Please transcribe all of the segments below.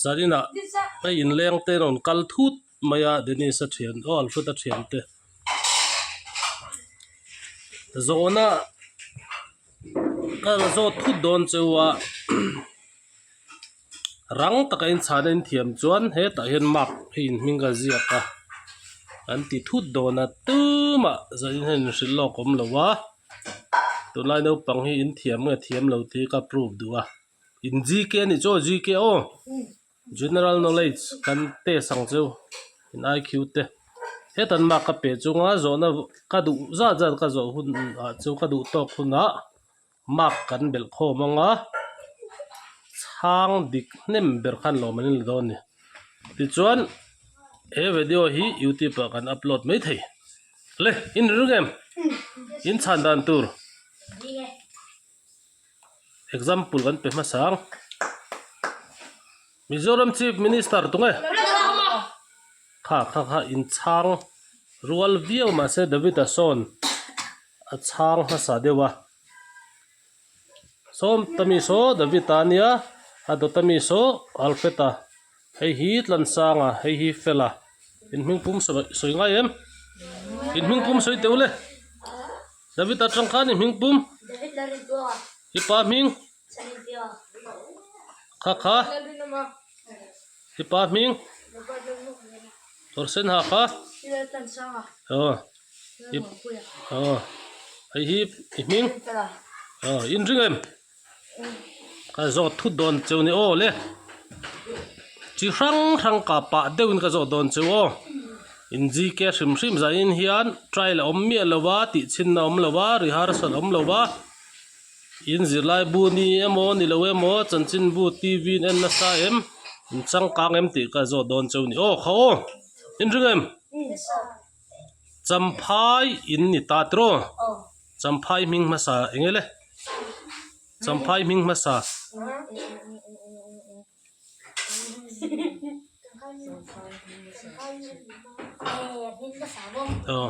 Zarina a inleng te rawn kal thut mai a Dennis a thian aw Alfred a thian te zawhna a zawt thut dawn cheu a rang taka in chhahna in thiam chuan hetah hian map a in hming ka ziak a kan ti thut dawn a tumah Zarina in hrilh lawk awm lo a tunlai naupang hi in thiam nge thiam lo tih ka prove duh a. in GK a nih chu aw GK aw general knowledge kan test ang chu in IQ te heta mark ka pe chunga zawhna ka duh zat zat ka zawh hun ah chu ka duh tawk hunah mark kan belh khawm ang a chhang dik hnem ber khan lawm an ni lo dawn a ni tichuan he video hi youtube ah kan upload mai thei le in rilru ngei em in chhan dan tur. example kan pe hmasa ang Mizoram Chief Minister tunge kha kha kha in chhang rual viau mahse David a sawn a chhang hmasa deuh a sawmta mi saw David a nia a dawta mi saw Alfred a. Hei hi tlansanga, hei hi fela, inhming pum sawi ngai em? Inhming pum sawi teuh le! Davita tangkhan inhming pum? I pa hming? Khakha? I pa hming? Kawrsen ha kha? Aw, i, aw, hei hi i hming? Aw, inring em? Ka zawh thut dawn che u ni aw le, chi hrang hrang kah pah deuh in ka zawh dawn che u aw, in zk hrim hrim zah in hian trial a awm miah lo va, tih chhin na awm lo va, rehearsal a awm lo va, in zirlai bu ni emaw ni lo emaw, chanchin bu TV in en nasa em, in changkang em tih ka zawh dawn che u ni aw, kha aw, in ring em? Champhai in ni ta tawh rawh Champhai hming hmasa eng e le Champhai hming hmasa aw.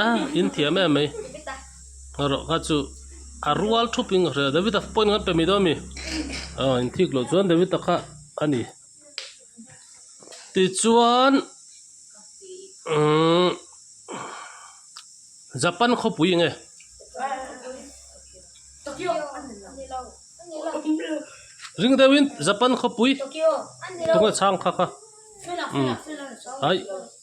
Aa in thiam em mai ngarawh kha chu a rual thup in ka hria David a point kan pe mai dawn a mi aw in thik loh chuan David a kha a ni tichuan umm Japan khawpui nge ring deuh in Japan khawpui tunge chhang kha kha umm ai.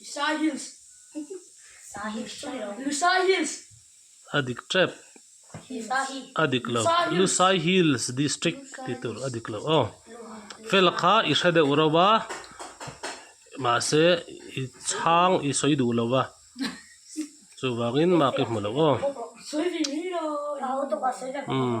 Lusai Hills. Lusai Hills. A dik tep. A dik lo. Lusai Hills District tih tur a dik lo. Aw fela kha i hre deuh reuh a, mahse i chhang i sawi duh lo va, chuvangin mak i hmu lo aw. Sawi ve mai lo. Aw.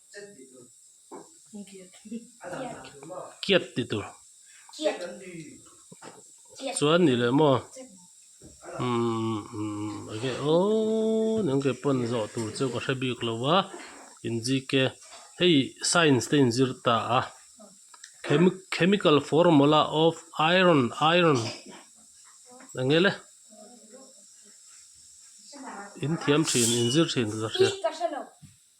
kiat ti tur chuan ni leh maw umm an ke pawn zawh tur chu ka hre bik lo va in zik e hei science te in zir ta a chemical formula of iron iron eng nge le inthiam thin in zir thin ka hria.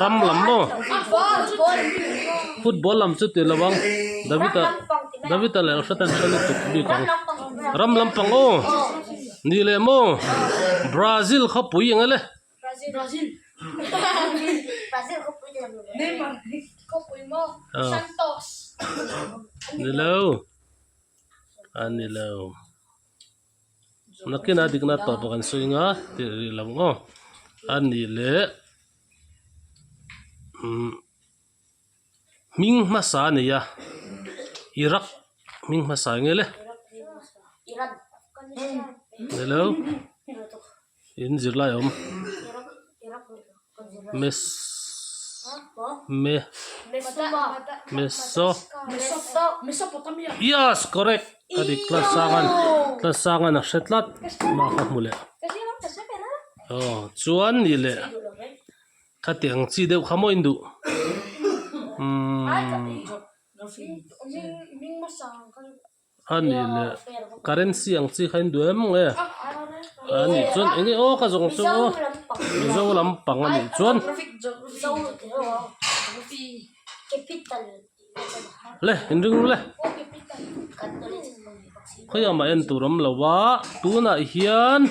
ram lam maw football lam chu tih lovang david a david a leh a hriat a ni chuan a tawp bik ang ram lampang aw ni leh maw brazil khawpui eng e le ni lo a ni lo. Nakina dikna tawpa kan sawi nga tih rih lo maw? A nih leh umm hming hmasa a nia Iraq hming hmasa nge le? Hello. in zirlai a awm yes correct a dik tlat sang a ni tlat sang a ni a hre tlat mah ka hmu leh aw chuan nih leh khati ang chi deuh kha mawiin duh umm. A nih leh currency ang chi kha in duai em mawng e a nih chuan eng nge aw ka zawng chu Mizo lam pang a nih chuan le in ring ru le khawiah mah en tur awm lo a tunah hian--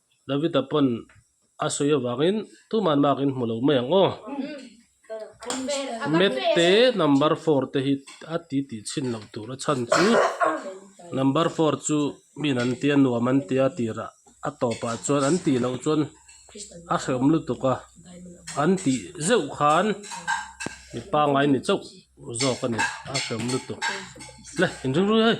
Davida pawn a sawi avangin, Tuman mak in hmu lo mai ang aw. Mette number four te hi a ti tih chhin loh tur a chhan chu, number four chu min an ti a, nuam an ti a tirah a tawpah chuan an tih loh chuan a hrehawm lutuk a, an tih zeuh khan mi pangngai ni chauh zawk a ni, a hrehawm lutuk. Le, in ring ruih a hei.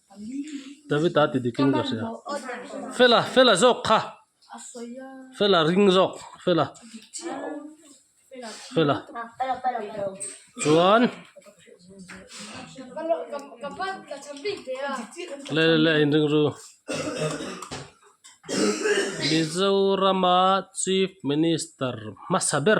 Tavita ti dikin ka hria fela fela zawk kha fela ring zawk fela fela chuan le le le in ringru Mizorama chief minister hmasa ber.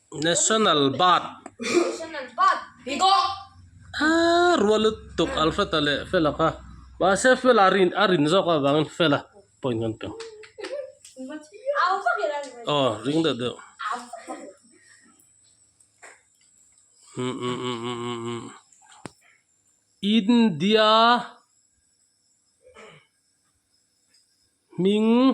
National bat aa rua lutuk alfata leh fela kha mahse fela rin a rin zawk avangin fela point kan pe aw ring deuh deuh India hming.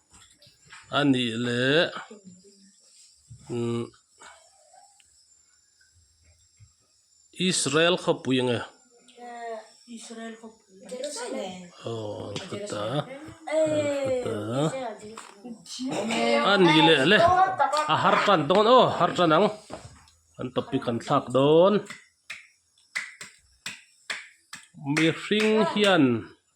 a nih leh umm Israel khawpui nge aww an khaw ta a ni leh le a har tan dawn aw har tan ang kan topic kan thlak dawn mihring hian--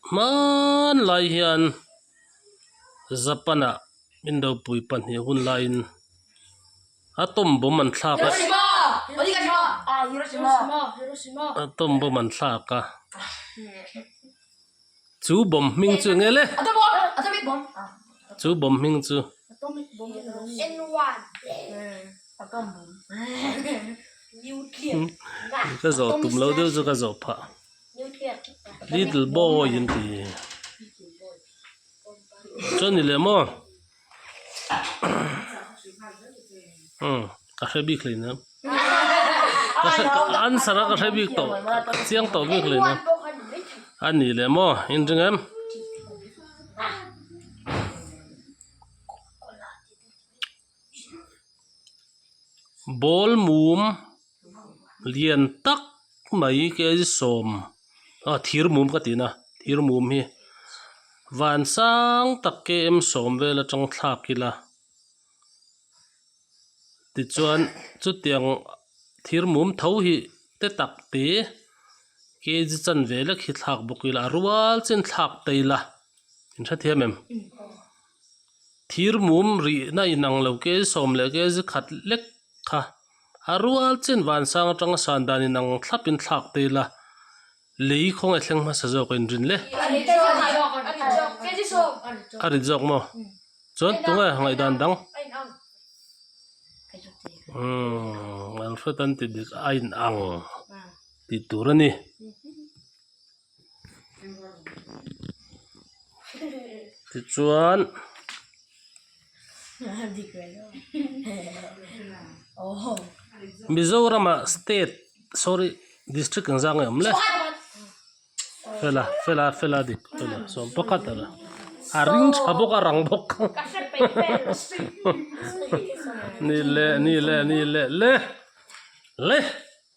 Hmanlai hian Japan-a min ropui pahnih hun laiin atom bomb an thlak a, atom bomb an thlak a, chu bomb hming chu eng nge le? chu bomb hming chu ka zawh tum lo deuh chu ka zawh phah. Little boy an ti a chuan ni leh maw umm ka hre bik hlei nia answer a ka hre bik tawh ka chiang tawh bik hlei nia a ni leh maw in ring em. ball mum lian tak mai ka i sawm a thir mum ka ti na thir mum hi van sang tak kem sawm vel atang thlak ila tichuan chutiang thir mum tho hi te tak te K G chanve lek hi thlak bawk ila a rual chin thlak ta ila in hrethiam em. Thir mum rihna inang lo kei sawm leh kei zi khat lek kha a rual chin vansang atanga san dan inang thlap in thlak te ila lei khawnge thleng hmasa zawk a inrin le. Ka rit zawk maw? Chuan tunge ngaihdan dang? Umm Alfred an ti dik a inang tih tur a ni. Tichuan Mizoramah state sorry district an zang em le fela fela fela dik fela sawm pakhat a la a ring tha bawk a rang bawk ni leh ni leh ni leh le le.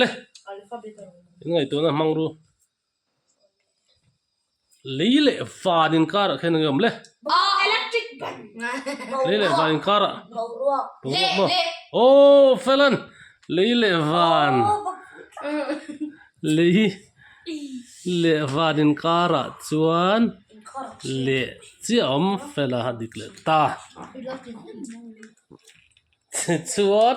Le! In ngaihtuahna hmang ru. Lei leh van inkar ah khian a ngeiawm le. Lei leh van inkar ah boruak maw? Aww Felen! Lei leh van Lei leh van inkar ah chuan leh chiah a awm fel a dik leh ta. Tichuan.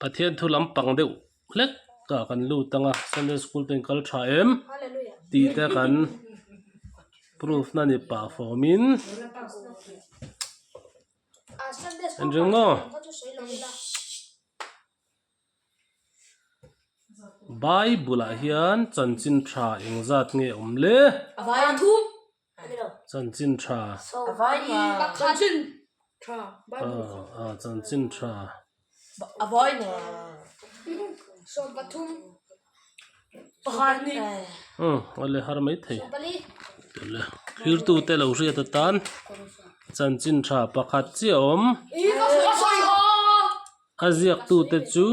Pathian thu lampang deuh hlek ka kan lut ang a, Sunday School ten kal tha em? tih te kan proof na ni pah fawm in en ring maw? Bible ah hian chanchin tha engzat nge awm le? Chanchinṭha Chanchinṭha Awle har mai thei Thirtu te lo hriat atan Chanchinṭha pakhat chiah a awm a ziak tu te chu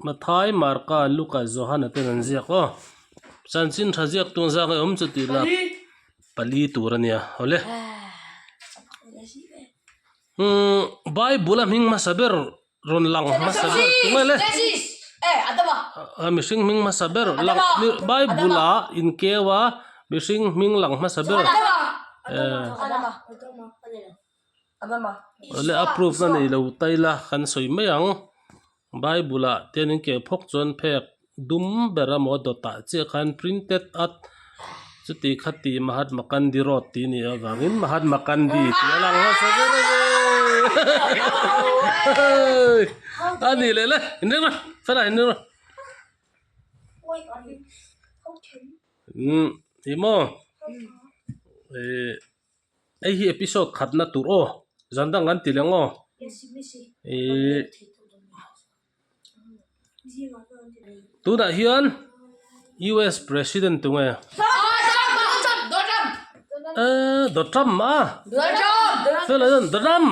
Hnathai Marka Luka Johana ten an ziak aw chanchin tha ziak tu ang zang hi awm chu tih la pali tur a nia awle umm bible a hming hmasa ber rawn lang hmasa ber tu mai le mihring hming hmasa ber lang bible a in keu a mihring hming lang hmasa ber ehh. Awle approve na neilo taila kan sawi mai ang bible ah te an in keh phawk chuan phek dum ber a maw dawt ah chiah khan printed at chuti kha ti Mahatma Kandy road tih a ni avangin Mahatma Kandy tih a lang hmasa ber a ni le la in reng rawh fela in reng rawh umm ih maw ehh. Hei hi episode khatna tur aw, zan dang kan ti leng aw. Ihh tunah hian US president tu nge? Ehh do trump a? Fellow hian do trump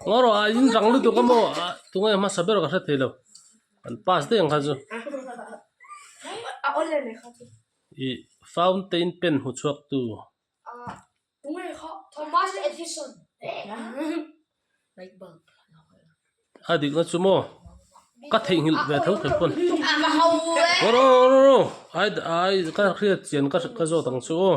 ngaw rawh a in rang lutuk a maw a tunge hmasa ber ka hre thei lo kan pass daih ang khan chu. I fountain pen hmu chhuak tu. A dik na chu maw? Ka theih nghilh ve tho khat pawn. Rawh rawh rawh rawh rawh. Ai ka hriat chian ka zawt ang chu aw.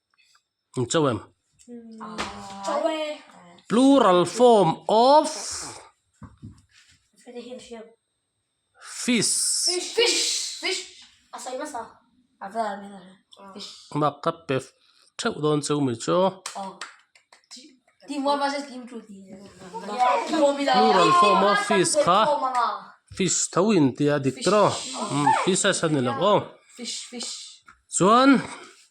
chauh em plural form of fish mak ka pe theuh dawn chu mi chu plural form of fish kha fish tho in tia dik tiraw fishes a ni loh aw chuan.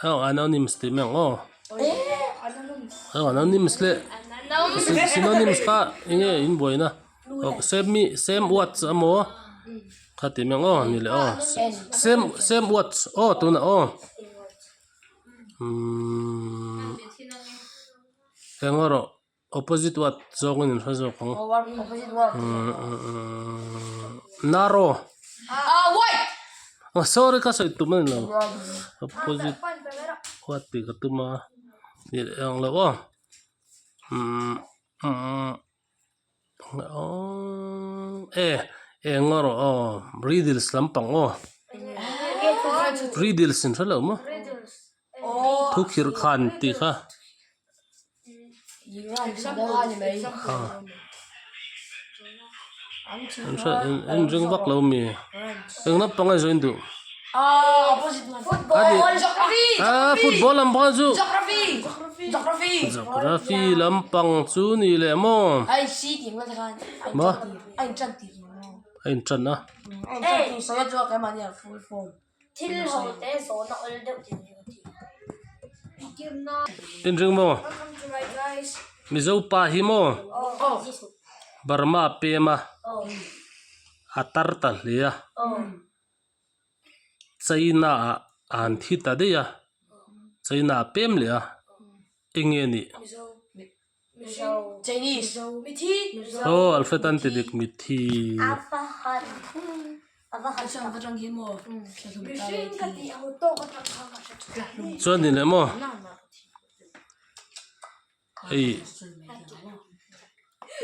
Hau anonyms tih mek ngawh. Hau anonyms leh synonyms kha enge in buaina same mi same words emaw kha tih mek ngawh ni le aw same same words aw tunah aw umm engemaw rawh. Opposite what zawngin min hre zawk ang umm naro oh sorry ka sawi tum a ni lo opposite what tih ka tum a ih ang lo aw umm umm aww eh eng erawh aw riddles lampang aw riddles in hre lo maw. thu khirh kha an ti kha an ring vak lo mi eng lam panga zawh in duh aa football lam panga zawh geography lam pang chu ni leh maw maw a inṭan a. Thil ho te zawhna awlh deuh tih ni awm tih. In ring maw? Welcome to my guys. Mizo pa hi maw? Aww. Burma pema a tar ta hle a. Aww. China ah an thi ta daih a. China ah pem leh a. Enge nih? Mizo. Aw alphabet an ti dik mithi. Chuan ni leh maw hei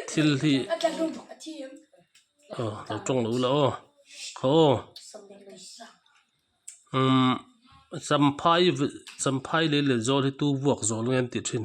thil hi aw lo tawng lo la aw aw umm champhai champhai leh leh zawrhna hi tu vuak zawrh nge an tih thin.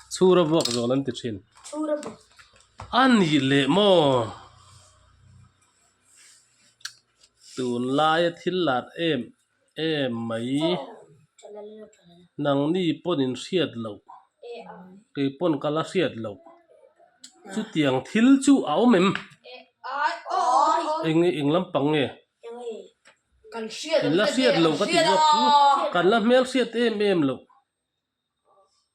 Chhur a vuak zawn an ti thin. Chhur a vuak. A nih leh maw? Tunlaia thil lat em em mai. Nang ni pawnin hriat loh. Kei pawn ka la hriat loh. Chutiang thil chu a awm em? Eng nge? Eng lampang nge? I la hriat loh ka ti zawk chu kan la hmel hriat em em loh.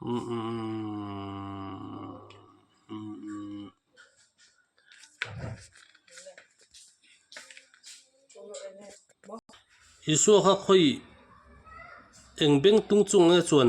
Isua kha khawi eng beng tung chung nge chuan?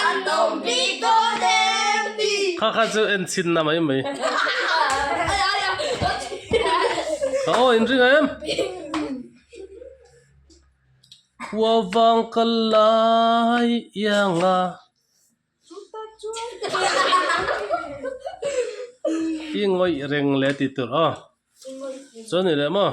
An awm bik dawn em ni. Kha kha chu en chhin na mai mai. Ka aw in ring a em. Khua vang kal lai iang a. Chuta chuan. I ngawih reng le ti tur aw. I ngawih reng. Chuan ni leh maw.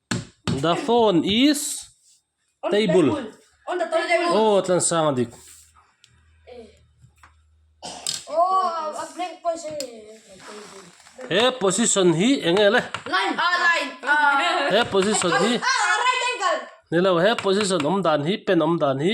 The phone is table. He position hi eng nge le? He position hi nilo. He position awm dan hi pen awm dan hi?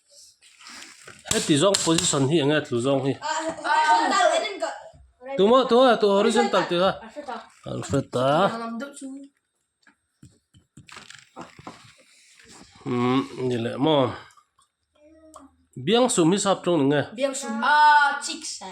Heti zawng position hi enge tlu zawng hi? Tuma tuma tu horizontal tih kha. Alphabet a. Um, ni leh maw. Biang sum hi sap tawng ni nge? Biang sum a chicks a.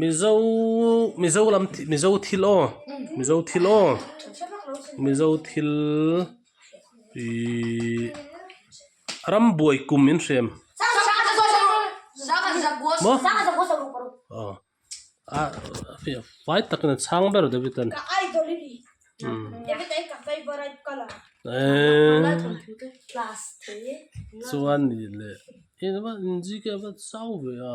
Mizo Mizo lam Mizo thil aw Mizo thil aw Mizo thil ihh rambuai kum in hrem maw aw a fai takin a chhang ber David an eehh chuan nih leh engmah inzik emaw zau ve a.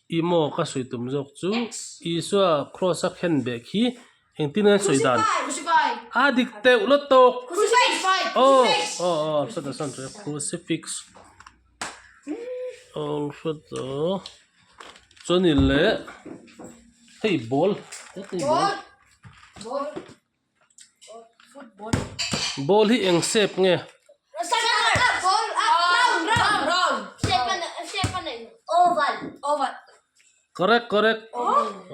I maw ka sawi tum zawk chu Isua Kraws a khen bek hi engtin a sawi dan? A dik teuh la tawk. Aw aw Crucifix awl hre tawh. Chu ni leh hei ball. Ball hi eng shape nge? Correct correct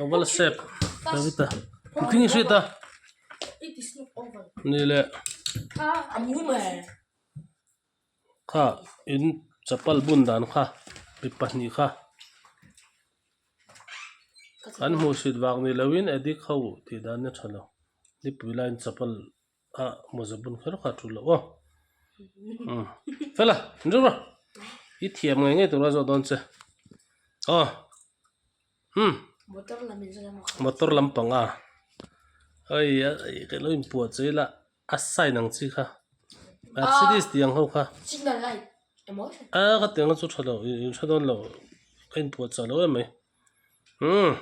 oval shape nileh. kha in chapal bun dan kha mi pahnih kha an hmuh chhit vak ni loin adik ho tih dan a tha lo nipui lain chapal a mawza bun kher kha thu loh aw umm fela in rum rawh i thiam ngei ngei tur a zawh dawn che aw. umm motor lam panga hei a lo in puah che ila a sign ang chi kha mercedes tih ang ho kha a ka tiang chu tha lo in tha dawn lo ka in puah chah lo em mai umm.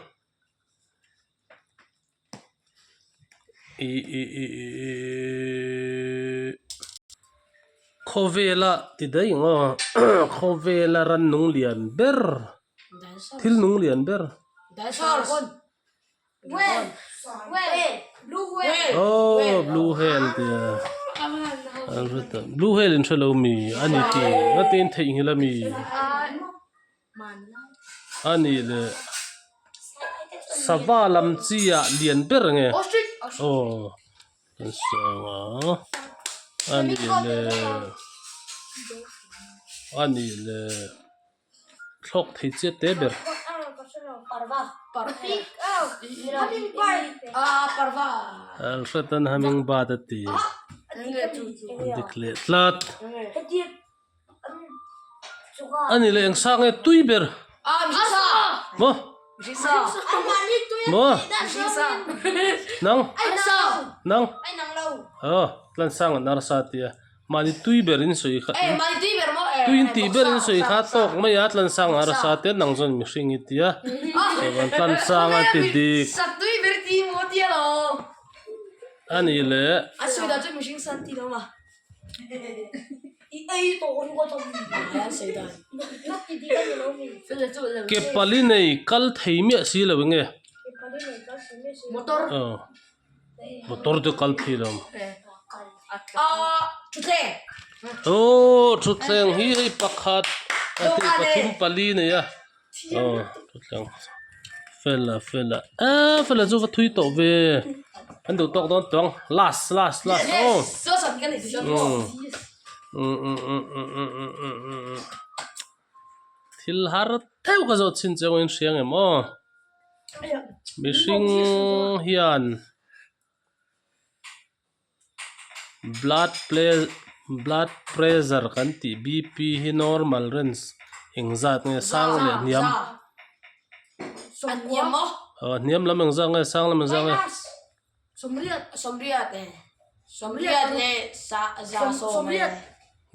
Khawvela ti daih ang aw khawvela rannung lian ber thil nung lian ber aw blue whale ti a an hre tawh blue whale in hre lo mi ani tih ang a ngatin theihnghilh a mi. a ni le sava lam chi a lian ber nge aw kan suang a a ni le a ni le thlawk thei chiat te ber alhraten hummingbird a ti dik leh tlat. ani leh eng sang nge tui ber maw maw nang nang aw tlan sang an arsa atia mahni tui ber in sawi kha tui in tih ber in sawi kha tawk mai a tlan sang an arsa tia nang zawk mihring i tia tlan sang a ti dik ani leh. Ke pali nei kal thei miah si lo eng e motor te kal phei lo aw thutthleng hi hei pakhat pathum pali nei a. aw chutlang fela fela eee fela chu va thui tawh ve an duh tawk dawn tawng last last last aw thil har theuh ka zawt chhin chu engawngin hriang em aw mihring hian. blood blood pressure kan tih bp hi normal range eng zat nge sang leh hniam aw hniam lam eng zat nge sang lam eng zat nge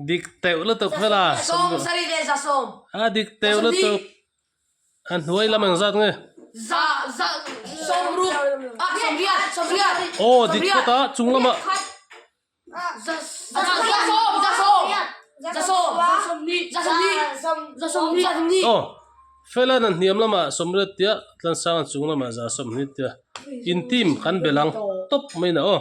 dik teuh lutuk hmela a dik teuh lutuk. A hnuai lam ang zat nge? Aw dit kawt a chung lamah. Aw Felan an hniam lamah sawmriat tia tlansanga chung lamah za sawmhni tia intim kan be lang tawp mai in a aw.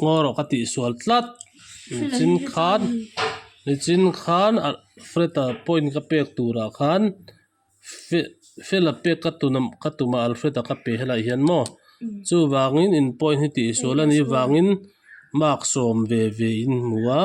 Ngaw rawh ka tih sual tlat nichin khan nichin khan a flat a point ka pek turah khan fe fel a pek ka tuna ka tum a alfred a ka pe helai hian maw chuvangin in point hi tihsual anih avangin mark sawm ve ve in hmu a.